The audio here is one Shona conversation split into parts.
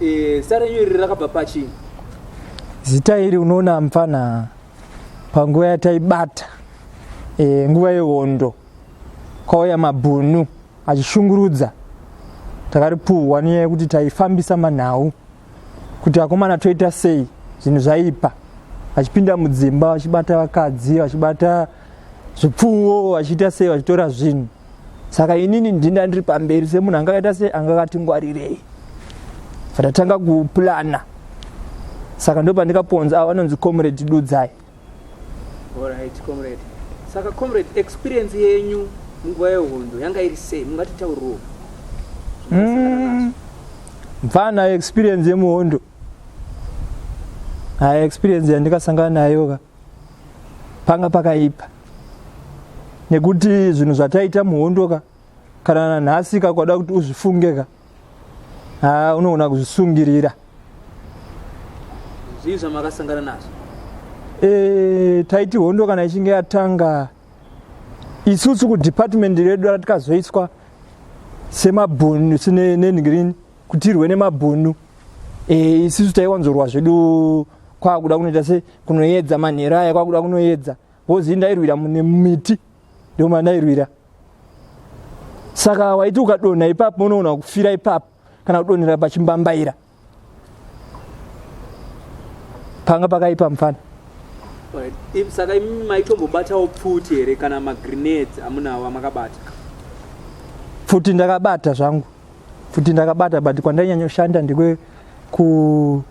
Eh, zita renyu iri rakabva pachii zita iri unoona mfana panguva yataibata e, nguva yehondo kwauya mabhunu achishungurudza takaripuhwa nenyaya yekuti taifambisa manhau kuti akomana toita sei zvinhu zvaipa vachipinda mudzimba vachibata vakadzi vachibata zvipfuwo vachiita sei vachitora zvinhu saka inini ndinda ndiri pamberi semunhu anga akaita sei anga akatingwarirei vatatanga kuplana saka ndo pandikaponza avo vanonzi comrade dudzai right, comrade. saka comrade experience yenyu munguva yehondo yanga iri sei mungatitauriwo mm. mfana experience yemuhondo hai experience yandikasangana nayoka panga pakaipa nekuti zvinhu zvataita muhondoka kana nanhasi ka kwada kuti uzvifunge ka haa unoona kuzvisungirira zvii zvamakasangana nazvo e, taiti hondo kana ichinge yatanga isusu kudepartment redu ratikazoiswa semabhunu nenhirini kutirwe nemabhunu eh, isisu taiwanzorwa zvedu kwakuda kunoita se kunoyedza manhero aya kwakuda kunoyedza bhozi ndairwira mune miti ndio mandairwira saka waiti ukadonha ipapo unoona kufira ipapo kana kudonhera pachimbambaira panga pakaipa mufana saka imi maitombobatawo pfuti here kana magrenades amunawo amakabata pfuti ndakabata zvangu futi ndakabata but kwandainyanyoshandira ndekwe ku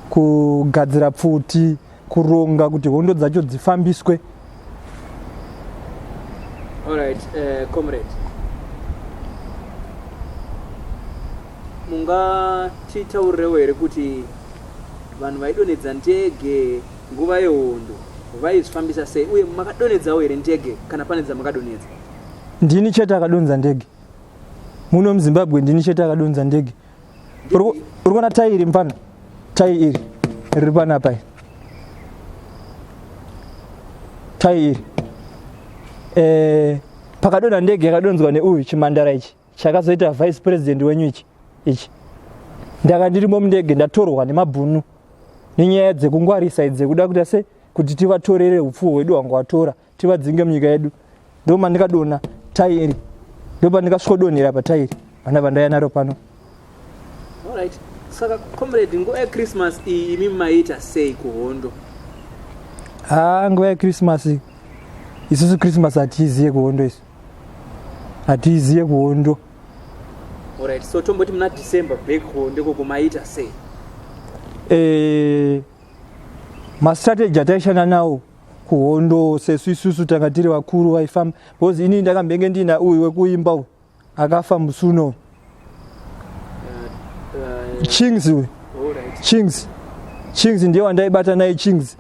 kugadzira pfuti kuronga kuti hondo dzacho dzifambiswe Alright, uh, comrade. mungatitaurirewo here kuti vanhu vaidonhedza ndege nguva yehondo vaizvifambisa sei uye makadonhedzawo here ndege kana pane dzamakadonhedza ndini chete akadonza ndege muno muzimbabwe ndini chete akadonza ndege uri kuona tai iri mfana tai iri riri panapa iri tai iri eh, pakadonha ndege yakadonzwa neuyu chimandara ichi chakazoita vice president wenyu ichi ichi ndaka ndirimo mundege ndatorwa nemabhunu nenyaya dzekungwarisa idzekuda kuita se kuti tivatorere upfuwo hwedu hwanga watora tivadzinge munyika yedu ndo mandikadona tai iri ndo pandikasvodonhera patai iri vana vandaiya naro pano right. saka comrade nguva yechristmas iyi imi maita sei kuhondo ha ah, nguva yechristmas isusu christmas hatiiziye kuhondo isu hatiiziye kuhondo orit so tomboti muna december back home ndekoko maita sei eh, mastrategy ataishanda nawo kuhondo sesu isusu tanga tiri vakuru vaifamba because inini ndakambenge ndiina uyu wekuimba uyu akafa musi uno uh, uh, chings uyu chings chings ndiye wandaibata naye chings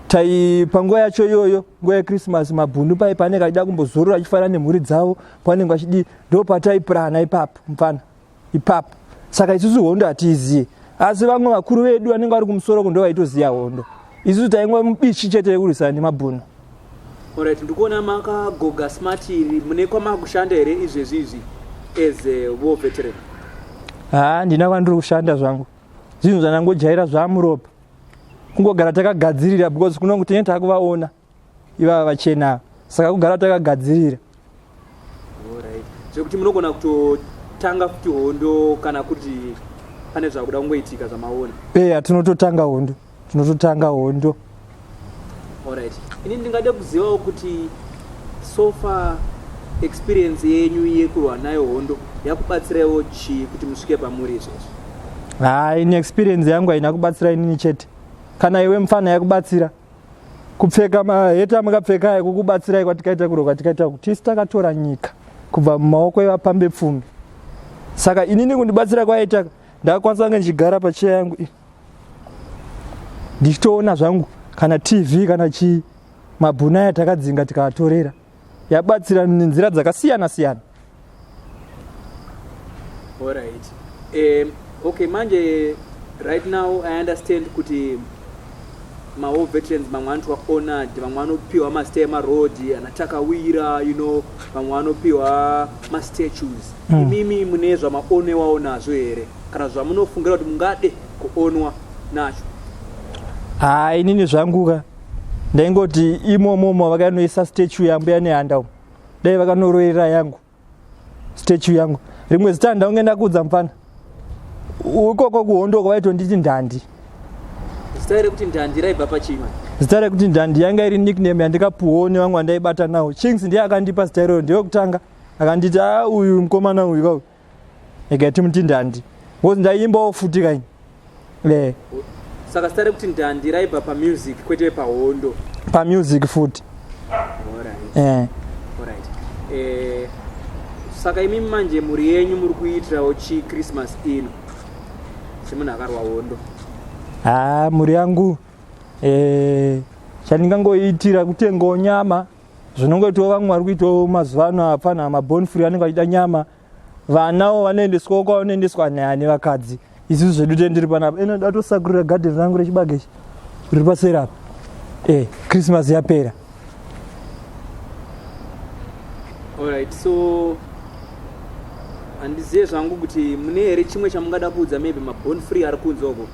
tai panguva yacho iyoyo nguva yechristmas mabhundu pai paanenge achida kumbozorora achifanira nemhuri dzavo paanenge achidii ndo pataiprana ipapo mfana ipapo saka isusu hondo hatiiziye asi vamwe vakuru vedu vanenge vari kumusoro ko ndovaitoziva hondo isusu taingwa mubichi chete yekurwisana nemabhunu orit ndikuona makagoga smart iri mune kwamakushanda here izvezvi izvi as wo veteran haa ndina kwandiri kushanda zvangu zvinhu zvandangojaira zvamuropa kungogara takagadzirira because kunongu tinenge takuvaona ivava vachena saka kugara takagadzirira zvekuti munogona kutotanga futi hondo kana kuti pane zvakuda kungoitika zvamaona eya tinototanga hondo tinototanga hondo orit ini ndingade kuzivawo kuti sofa experience yenyu yekurwa nayo hondo yakubatsiraiwo chii kuti musvike pamuri izvezvi ha ini experience yangu haina kubatsira inini chete kana iwe mufana yakubatsira kupfeka maheta mukapfeka ayo kukubatsirai kwatikaita kuro kwatikaita kuti tisu takatora nyika kubva mumaoko evapambe pfumi saka inini kundibatsira kwaita ndakakwanisa kunge ndichigara pacheya yangu i ndichitoona zvangu kana tv kana chii mabhuna aya takadzinga tikaatorera yabatsira nenzira dzakasiyana siyana alright um, okay manje right now i understand kuti mawo veterans vamwe anoitwa honored vamwe vanopiwa masita emaroad anatakawira you know vamwe vanopiwa mastatues hmm. imimi mm. mune zvamaonewawo nazvo here kana zvamunofungira kuti mungade kuonwa nacho haa inini zvanguka ndaingoti imomo mo vakanoisa statue yambuya nehanda umo dai vakanoroerera yangu statue yangu rimwe zita ndaunge ndakuudza mupfana ukoko kuhondoko vaitonditi ndandi zita rekuti ndandi raibva pachii zita rekuti ndandi yanga iri nickname yandikapuwawo nevamwe vandaibata nawo chings ndiye akandipa zita iroro ndeyokutanga akanditi a ah, uyu mukomana uyu kauyu egati muti ndandi bcause ndaiimbawo futi kaini e saka sitare kuti ndandi raibva pamusic kwete pahondo pamusic futi e saka imi manje mhuri yenyu muri kuitirawo chi christmas ino semunhu akarwa hondo ha mhuri yangu e chandingangoitira kutengawo nyama zvinongoitwa vamwe vari kuitawo mazuva ano apana maborn free anenge achida nyama vanawo vanoendeswawo kwavanoendeswa nyaya nevakadzi isusu zvedu tee ndiri panapa ino ndatosakurira gadheni rangu rechibage ichi riri paseri apa e krismas yapera allright so handizive zvangu kuti mune here chimwe chamungada kuudza maybe maborn free ari kunze uko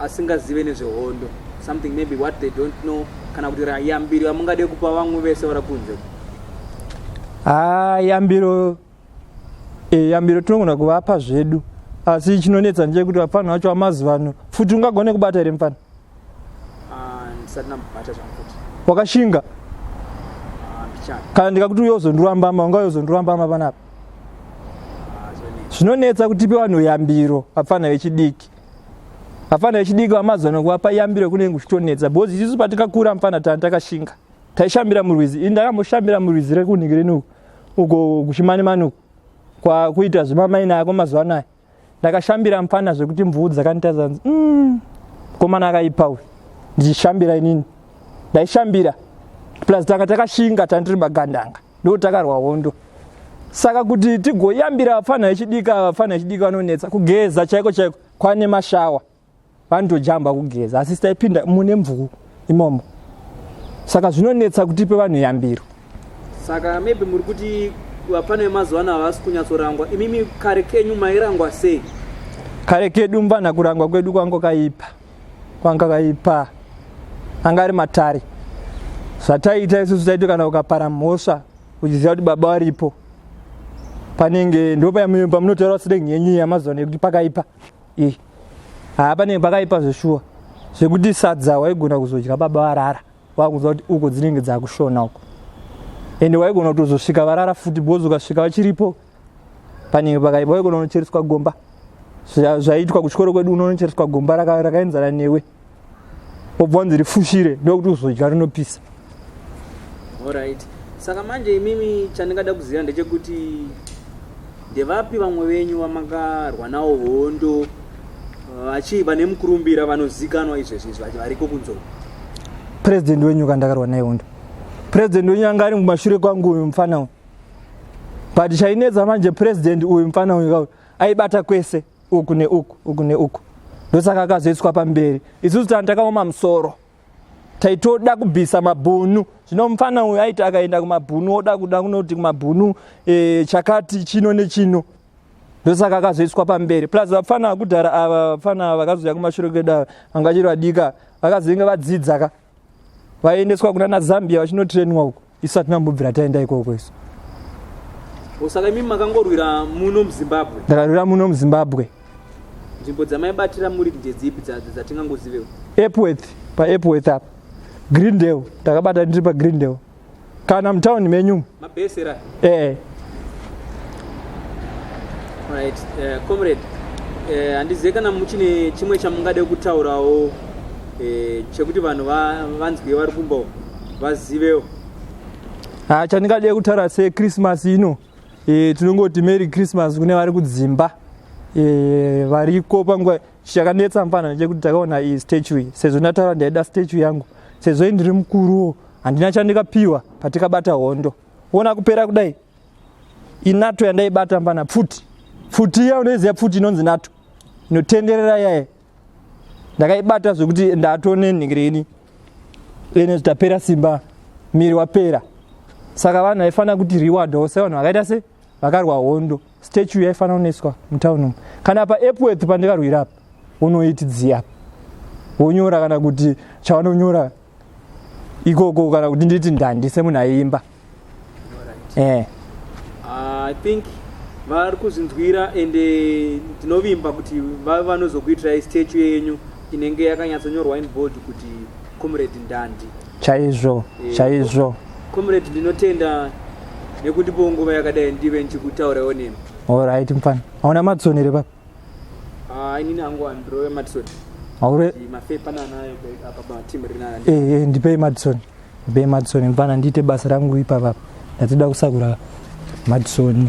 asingazive nezvehondo something maybe what they don't know kana kuti yambiro yamungade kupa vamwe vese vari kunze haa yambiro e, yambiro tinogona kuvapa zvedu asi chinonetsa nje kuti vapfanha vacho vamazuva ano futi ungagone kubata here mfana ah, ndisati nambata zvakuti wakashinga ah, kana ndikakuti uyozondirambama ungayozondirambama panapa zvinonetsa kutipe vanhu yambiro vapfana vechidiki vapfana vechidiki vamazuva nokuvapa yambiro kunenge kuchitonetsa bhozi isusu patikakura mfana tani takashinga taishambira murwizi ini ndakamboshambira murwizi rekunhingireni uko kuchimanimani uko kwakuita zvemamaina yako mazuva anaya ndakashambira mfana zvekuti mvuu dzakanditadza nzi mm, komana akaipa uyu ndichishambira inini ndaishambira plus tanga takashinga tandiri magandanga ndo takarwa hondo saka kuti tigoyambira vapfanha vechidika vapfanha vechidika vanonetsa kugeza chaiko chaiko kwane mashawa vanotojamba kugeza asi sitaipinda mune mvuu imomo saka zvinonetsa kutipe vanhu yambiro saka maybe muri kuti vapfana vemazuva ano havasi kunyatsorangwa imimi kare kenyu mairangwa sei kare kedu mvana kurangwa kwedu kwanga kaipa kwanga kaipa anga ari matare zvataiita isusu taito kana ukapara mhosva uchiziva kuti baba varipo panenge ndopayamuimba munotaura sirengi yenyu yamazuva nekuti pakaipa ii haa panenge pakaipa zveshuwa zvekuti sadza waigona kuzodya baba varara wakuziva kuti uko dzinenge dzakushona uko ende waigona kutozosvika varara futi because ukasvika vachiripo panenge pakaipa waigona unochereswa gomba zvaitwa kuchikoro kwedu unonochereswa gomba rakaenzana newe wobva wanzi rifushire ndokuti uzodya rinopisa orit saka manje imimi chandingada kuziva ndechekuti ndevapi vamwe venyu vamakarwa nawo hondo vachii vane mukurumbira vanozikanwa izvezvi izvi vachi variko kunzou purezidendi wenyu ka ndakarwa naye hondo purezidendi wenyu anga ari mumashure kwangu uyu mufana uyu but chainetsa manje purezidendi uyu mufana uyu kauyu aibata kwese uku neuku uku neuku ndosaka akazoiswa pamberi isusu tana takaoma musoro taitoda kubvisa mabhunu zvino mufana uyu aiti akaenda kumabhunu oda kuda kunoti kumabhunu e, chakati chino nechino ndosaka akazoiswa pamberi plus vapfana vakudhara ava vapfana ava vakazouya kumashure kwedu ava vanga chiri vadika vakazenge vadzidza ka vaiendeswa kuna nazambia vachinotrenwa uko isu hatina kumbobvira taenda ikoko isu osaka imimi makangorwira muno muzimbabwe ndakarwira muno muzimbabwe nzvimbo dzamaibatira muri ndedzipi dzatingangozivewo epworth paepworth apa greendale ndakabata ndiri pagreen dale kana mutown menyu mabesera eh right uh, comrade eh, handizive uh, kana muchine chimwe chamungade kutaurawo uh, chekuti vanhu vanzwiwe vari kumba vazivewo ha chandingade kutaura sechristmas ino e, tinongoti mary christmas kune vari kudzimba e, variko panguva Chichakanetsa mfana ndechekuti takaona iyi statue iyi sezvo ndataura ndaida statue yangu sezvo indiri mukuruwo handina chandikapiwa patikabata hondo ona kupera kudai inato yandaibata mfana pfuti pfuti iya unoiziva pfuti inonzi nato inotenderera yaye ndakaibata zvekuti ndatone nhingirini ene zvitapera simba miri wapera saka vanhu vaifanira kuti reward ose vanhu vakaita se vakarwa hondo statue yaifanira kunoiswa mutown umu kana paepworth pandikarwira apa unoiti dziya apa wonyora kana kuti chavanonyora ikoko kana kuti nditi ndandi semunhu aiimba eh. ah, i think vari kuzvinzwira and eh, ndinovimba kuti vave vanozokuitirai statue yenyu inenge yakanyatsonyorwa in bold kuti comrade ndandi chaizvo eh, chaizvo comrade ndinotenda nekundipo nguva yakadai ndive ndichikutaurawo nemi orit mfana hauna madison here papa ah, inini angu andirove madison aure mafepa nanayo apa patim rinana eh, eh, ndipei madison ndipei madison mfana ndiite basa rangu ipapapa ndatoda kusakura madison